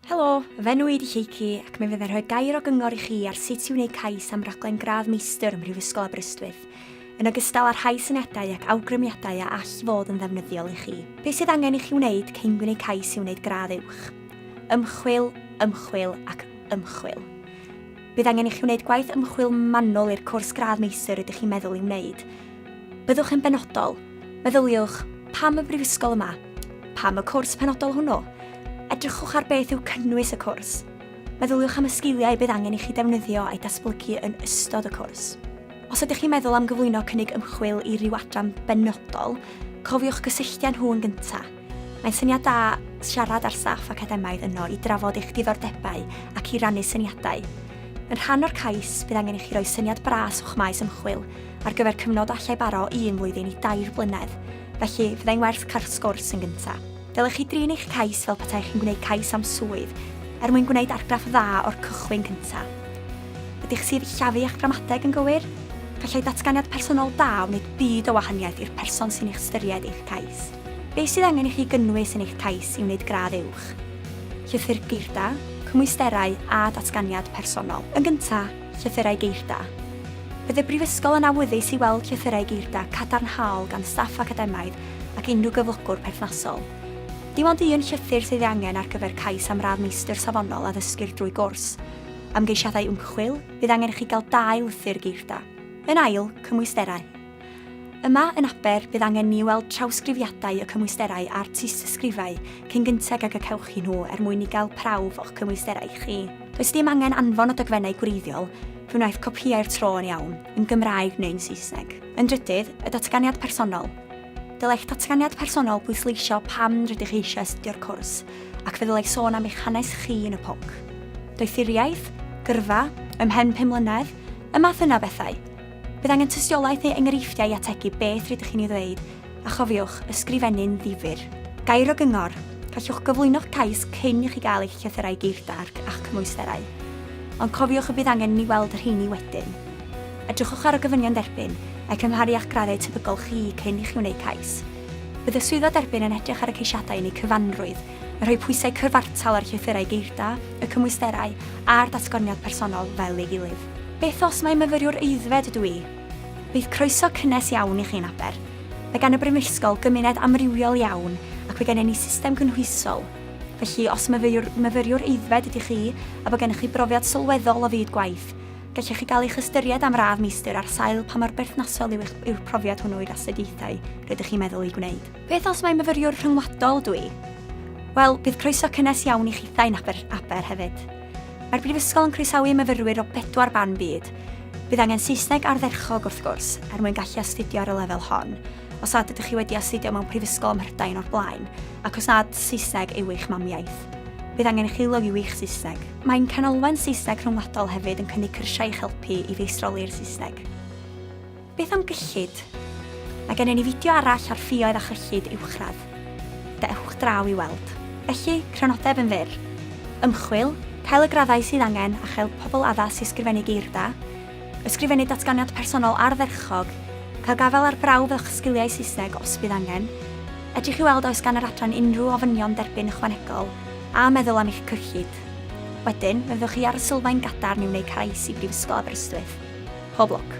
Helo, fy enw i ydy Lleucu ac mi fydda i'n rhoi gair o gyngor i chi ar sut i wneud cais am raglen gradd meistr ym Mhrifysgol Aberystwyth, yn ogystal â rhai syniadau ac awgrymiadau a all fod yn ddefnyddiol i chi. Be sydd angen i chi wneud cyn gwneud cais i wneud gradd uwch? Ymchwil, ymchwil ac ymchwil. Bydd angen i chi wneud gwaith ymchwil manwl i'r cwrs gradd meistr rydych chi'n meddwl ei wneud. Byddwch yn benodol. Meddyliwch, 'Pam y brifysgol yma? Pam y cwrs penodol hwnnw? Edrychwch ar beth yw cynnwys y cwrs. Meddyliwch am y sgiliau bydd angen i chi ddefnyddio a'u datblygu yn ystod y cwrs. Os ydych chi'n meddwl am gyflwyno cynnig ymchwil i ryw adran benodol, cofiwch gysylltu â nhw yn gyntaf. Mae'n syniad da siarad â'r staff academaidd yno i drafod eich diddordebau ac i rannu syniadau. Yn rhan o'r cais, bydd angen i chi roi syniad bras o'ch maes ymchwil ar gyfer cyfnod a allai baro un flwyddyn i dair blynedd, felly fyddai'n werth cael sgwrs yn gyntaf. Dylech chi drin eich cais fel petai chi'n gwneud cais am swydd, er mwyn gwneud argraff dda o'r cychwyn cyntaf. Ydych sillafu a'ch gramadeg yn gywir? Gallai datganiad personol da wneud byd o wahaniaeth i'r person sy'n eich ystyried eich cais. Beth sydd angen i chi gynnwys yn eich cais i wneud gradd uwch? Llythyr geirda, cymwysterau a datganiad personol. Yn gyntaf, llythyrau geirda. Bydd y Brifysgol yn awyddus i weld llythyrau geirda cadarnhaol gan staff academaidd ac unrhyw gyflogwr perthnasol. Dim ond un llythyr sydd ei angen ar gyfer cais am radd Meistr Safonol Addysgir drwy gwrs. Am geisiadau ymchwil, bydd angen i chi gael dau lythyr geirda. Yn ail, cymwysterau. Yma yn Aber, bydd angen ni weld trawsgrifiadau y cymwysterau a'r tystysgrifau cyn gynted ag y cewch chi nhw er mwyn i gael prawf o'ch cymwysterau chi. Does dim angen anfon o dogfennau gwreiddiol, fe wnaeth copïau'r tro yn iawn, yn Gymraeg neu'n Saesneg. Yn drydydd, y datganiad personol. Dylai'ch datganiad personol bwysleisio pam rydych chi eisiau astudio'r cwrs, ac fe ddylai sôn am eich hanes chi yn y pwnc. Doethuriaeth? Gyrfa? Ymhen pum mlynedd? Y math yna o bethau. Bydd angen tystiolaeth neu enghreifftiau i ategu beth rydych chi'n ei ddweud, a chofiwch, ysgrifennu'n ddifyr. Gair o gyngor, Gallwch gyflwyno'ch cais cyn i chi gael eich llythyrau geirdarc a'ch cymwysterau. Ond cofiwch y bydd angen i ni weld y rheini wedyn. Edrychwch ar y gofynion derbyn, a'u cymharu â'ch graddau tebygol chi cyn i chi wneud cais. Bydd y Swyddfa Derbyn yn edrych ar y ceisiadau yn eu cyfanrwydd, yn rhoi pwysau cyfartal ar llythyrau geirda, y cymwysterau, a'r datganiad personol fel ei gilydd. Beth os mai myfyriwr aeddfed ydw i? Bydd croeso cynnes iawn i chi yn Aber. Mae gan y Brifysgol gymuned amrywiol iawn ac mae gennym ni system gynhwysol. Felly, os myfyriwr myfyriwr aeddfed ydych chi a bod gennych chi brofiad sylweddol o fyd gwaith, gellech chi gael eich ystyried am radd meistr ar sail pa mor berthnasol yw'ch yw'r profiad hwnnw i'r astudiaethau rydych chi'n meddwl eu gwneud. Beth os mai myfyriwr rhyngwladol dw i? Wel, bydd croeso cynnes iawn i chithau yn Aber, Aber hefyd. Mae'r Brifysgol yn croesawu myfyrwyr o bedwar ban byd. Bydd angen Saesneg ardderchog, wrth gwrs, er mwyn gallu astudio ar y lefel hon, os nad ydych chi wedi astudio mewn prifysgol ym Mhrydain o'r blaen, ac os nad Saesneg yw eich mamiaith. Bydd angen i chi lygu wych Saesneg. Mae ein Canolfan Saesneg Rhyngwladol hefyd yn cynnig cyrsiau i'ch helpu i feistroli'r Saesneg. Beth am gyllid? Mae gennym ni fideo arall ar ffioedd a chyllid uwchradd. Dewch draw i weld. Felly, crynodeb yn fyr. Ymchwil, cael y graddau sydd angen a chael pobl addas i ysgrifennu geir da, ysgrifennu datganiad personol ardderchog, cael gafael ar brawf o'ch sgiliau Saesneg os bydd angen, edrych i weld oes gan yr adran unrhyw ofynion derbyn ychwanegol, a meddwl am eich cyllid. Wedyn, fe fyddwch chi ar y sylfaen gadarn i wneud cais i Brifysgol Aberystwyth. Pob lwc.